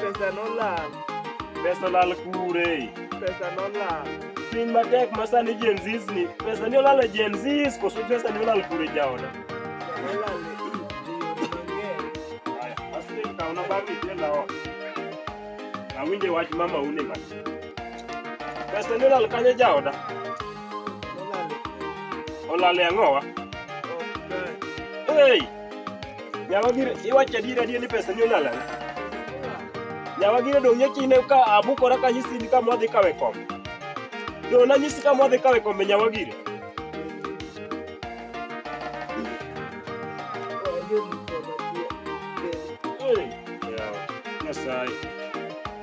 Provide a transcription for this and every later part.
Pesa nolal. Pesa olal kure. Pesa nolal. Piny matek ma sani Gen Zs ni, pesa ni olal e Gen Zs koso pesa ni olal kure jaoda? Nolal e ji mang'eny. Aya, asli kaona bagi jela ot. Awinje wach mama une ma. Pesa ni olal kanye jaoda? Nolal e Olal e ang'owa? ok kae. Hey! Nyawa gire iwacho adier adier ni pesa ni onala. Nyawa gire dong' yakine ka abukora ka nyisi ni kama wadhi kawe kombe. Dong' nanyisi kama wadhi kawe kombe nyawa gire. Hey, yawa, Nyasaye.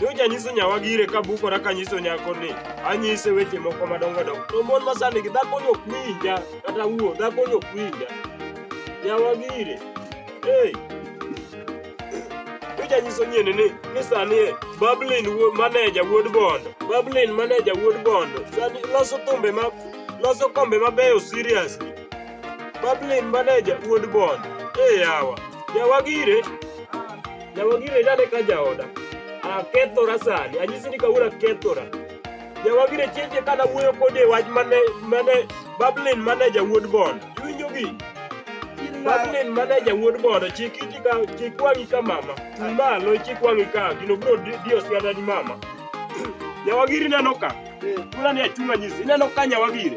Nyocha anyiso nyawagi ire ka bukora kanyiso nyako ni anyise weche moko madongo dongo. To mon ma sani gi dhakoni ok winja kata wuo dhakoni ok winja. Nyawagi ire. Hey. Nyocha anyiso nyieni ni ni sani e Bablin maneja wuod Bondo. Bablin maneja wuod Bondo. Sani loso thumbe ma loso kombe mabeyo seriously. Bablin maneja wuod Bondo. Hey yawa. Nyawagi ire. Jawagire dane ka jaoda. Akethora sani. Anyisi ni kawuono akethora. Jawagire cheche kana wuoyo kode wach mane mane Bablin mane jawuod Bond. Iwinjo gi? Bablin mane jawuod Bond chik iti ka chik wangi ka mama. Malo chik wangi ka gino bro dio siada ni mama. Jawagiri neno ka. Tuna ni achunga nyisi. Neno ka nyawagire.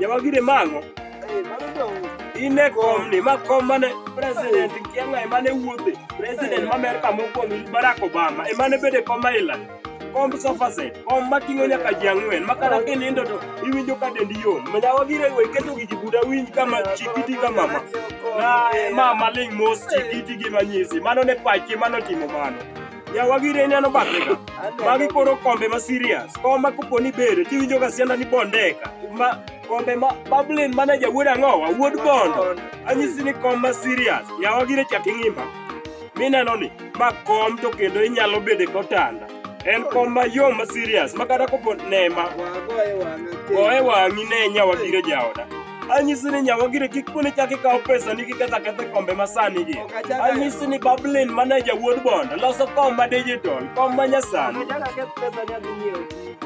Yawagire mango. Ine kom ni ma kom mane president kianga emane wuothe. President ma Amerika mokwongo Barack Obama emane bede kom ma ila. Kom sofa set, kom ma ting'o nyaka ji ang'wen ma kata kinindo to iwinjo ka dendi yom. Ma yawagire we keto gi jibuda winj kama chikiti ka mama. Na mama ling mos chikiti gi manyisi. Mano ne pachi mano timo mano. Yawa gire ineno bathe ka. Magi koro kombe ma serious. Kom ma kopo ni bere tiwinjo ga sianda ni bondeka. Ma kombe ma Bablin mana jawuod ang'owa, wuod bondo. Anyisi ni kom ma serious. Yawa gire chak ing'ima. Mineno ni ma kom to kendo inyalo bede kotanda. En kom ma yo ma serious. Ma kata kopo nema. Wagoye wang'e. Goye wang'i ne nyawa gire jaoda. Anyisi ni nyawagire kik kune chak ikaw pesa ni kiketho aketho kombe masani gi. Ok achak ayo. Anyisi ni Bablin manager wuod Bond loso kom ma digital, kom ma nyasani. Amechaka keth pesa ni adhi nyiewo TV.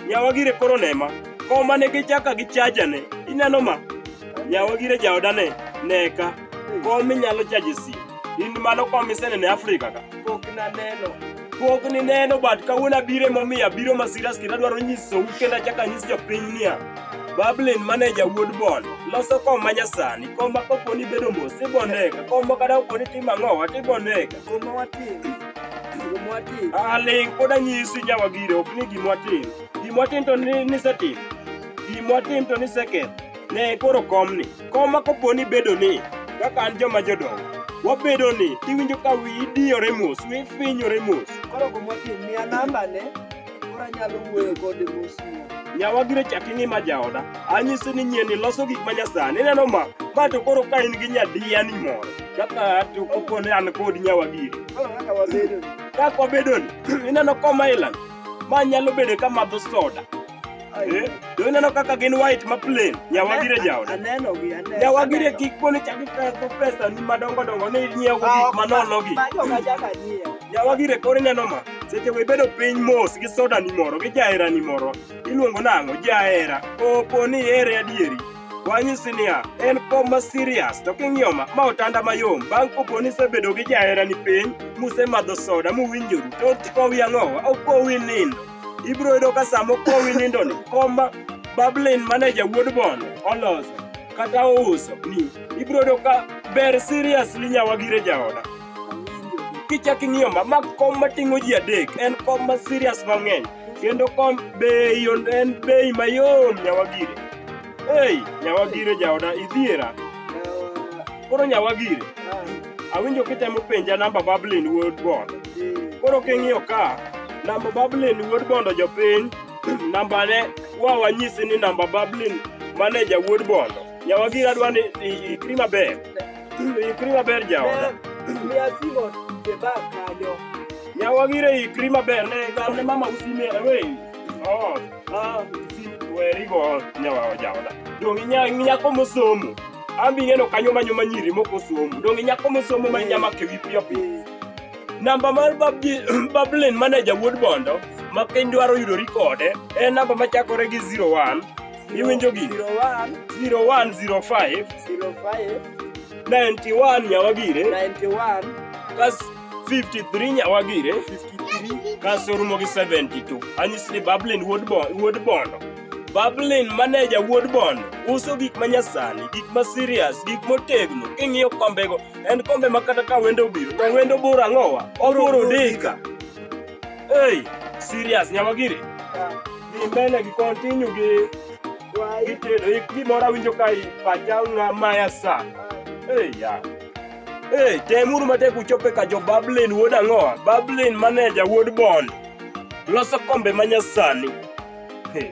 Nyawagire koro nema. Kom mane gichaka gi chaja ne. Ineno ma? Nyawagire jaoda ne. Neka. Kom minyalo chaje si. In mano kom isenene Afrika ka. Pok naneno. Pok ni neno but kawuono abiro emomiyo abiro ma serious kendo adwaro nyisou kendo achako anyis jopiny niya Bablin maneja wuod Bon loso kom ma nyasani kom ma kopo ni bedo mos tibonega kom ma kata kopo ni timo ang'owa tibonega kom ma watimo kom ma watimo ah ling pod anyisi nyawagire ok ni gima watimo gima watimo to ni- nisetimo gima watimo to niseketho Ne koro komni. Kom ma kopo ni bedo ni kaka an joma jodongo wabedo ni iwinjo ka wiyi diyore mos, wiyi finyore mos. Koro kom wapi miya nambane koro anyalo wuoyo kode mos mos. Nyawa gire chak ing'ima jaoda. Anyisi ni nyieni loso gik ma nyasani. Ineno ma? Ma to koro ka in gi nyadiya ni moro. Kaka to kopo ni an kod nyawa gire. Koro kaka wabedo ni. Kaka wabedo ni, ineno kom Island, ma nyalo bedo ka madho soda. Eh, to ineno kaka gin white ma plain nyawagire jaoda Aneno gi aneno. nyawagire kik poni chaki peso pesa ni madongo dongo ni nyiewo gik manono gi Ma joga jaga nyiewo. nyawagire koro ineno ma seche go ibedo piny mos gi soda ni moro gi jahera ni moro iluongo nang'o jahera opo ni here adieri wanyisi niya en kom ma serious to king'iyo ma ma otanda mayom bang' kopo ni isebedo gi jahera ni piny musemadho soda muwinjoru to kowi ang'owa okowi nindo Ibiro yudo ka sama okowi nindoni, kom bablin mane jawuod bondo oloso kata ouso ni ibiro yudo ka ber seriously nyawagire jaoda. Kichak ing'iyo ma, ma kom mating'o ji adek en kom ma serious mang'eny kendo kom bei on- en bei mayom nyawagire. Ei, nyawagire jaoda idhiera. Koro nyawagire. Awinjo kitemo penja namba Bablin Wuod Bondo. Koro king'iyo ka, namba Bablin Wuod Bondo jopiny, nambane wa wanyisi ni namba Bablin maneja Wuod Bondo. Nyawagire adwa ni ikri maber. Ikri maber jaoda. Mia simo jeba kanyo. Nyawagire ikri maber ne gamne mama usimera wei. Oh. Ah, werigo nyawa ojaoda. Donge nyako mosomo. Ambi ng'eno kanyo manyo manyiri moko somo. Donge nyako mosomo ma nyama ke wi piyo piyo. Namba mar babji bablin manager wuod bondo ma piny dwaro yudori kode en namba machakore gi 01 iwinjo gi 01 05 05 91 nyawagire 91 kas 53 nyawagire 53 kaso rumo gi 72 anyisi ni bablin wuod bondo bablin maneja wuod bondo uso gik ma nyasani gik ma serious gik motegno king'iyo kombego en kombe ma kata ka wendo obiro to wendo bor ang'owa obor odeka ei serious nyawagire dhi mbele gi kontinyu gi gitedo gimoro awinjo ka pacha ng'a maya sa ei yeah. Hey, temuru matek uchope ka jo Bablin wuod ang'owa, Bablin maneja wuod Bond. Loso kombe ma nyasani. Hey.